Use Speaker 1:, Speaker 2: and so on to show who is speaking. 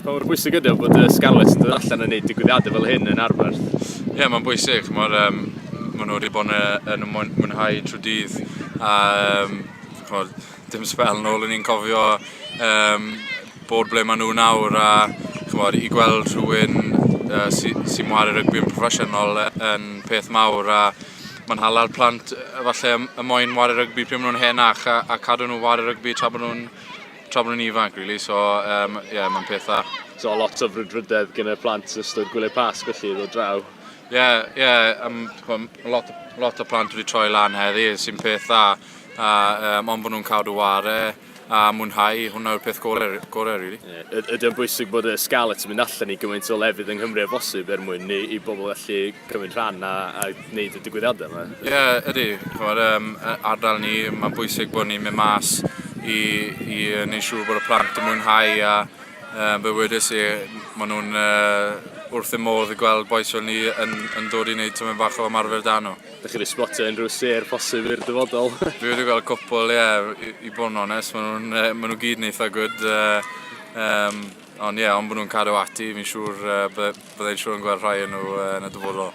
Speaker 1: Pa mor bwysig ydy o bod y Scarlets yn dod allan yn neud digwyddiadau fel hyn yn arfer? Ie, mae'n bwysig. Mae'r, um, maen nhw wedi bod yn y mwynhau trwy dydd. A, um, chod, dim spel nôl yn ni'n cofio um, bod ble maen nhw nawr. A chymod, i gweld rhywun uh, sy'n sy ar y rygbi yn proffesiynol yn peth mawr. A, Mae'n hala'r plant falle y moyn wario rygbi pryd maen nhw'n henach a, a cadw nhw wario rygbi tra bod nhw'n tra bod nhw'n ifanc, really. So, um, yeah, mae'n peth dda. So, lot o frwdfrydedd gen y plant yn ystod gwyliau pasg, felly, ddod draw. Ie, yeah, ie, yeah, um, lot, lot o plant wedi troi lan heddi, sy'n peth dda. A, um, ond bod nhw'n cadw ware. a mwynhau, hwnna yw'r peth gorau, gorau really. Yeah. Ydy o'n bwysig bod y Scarlets yn mynd allan i gymaint o lefydd yng Nghymru a bosib er mwyn i, i bobl allu cymryd rhan a, a wneud y digwyddiadau yma? Ie, yeah, ydy. Chymod, um, ardal ni, mae'n bwysig bod ni'n mynd mas i, i wneud siŵr bod y plant yn mwynhau a um, fe wedys i, maen nhw'n uh, wrth y modd i gweld boes fel ni yn, yn dod i wneud tyma'n fach o ymarfer dan nhw. Dych chi wedi sbotio unrhyw sêr posib i'r dyfodol? Dwi wedi gweld cwpl, ie, yeah, i, i bod yn onest, maen nhw'n uh, ma nhw gyd yn eitha gwyd. Uh, um, ond ie, yeah, ond bod nhw'n cadw ati, fi'n siŵr uh, byddai'n siŵr yn gweld rhai yn nhw uh, yn y dyfodol.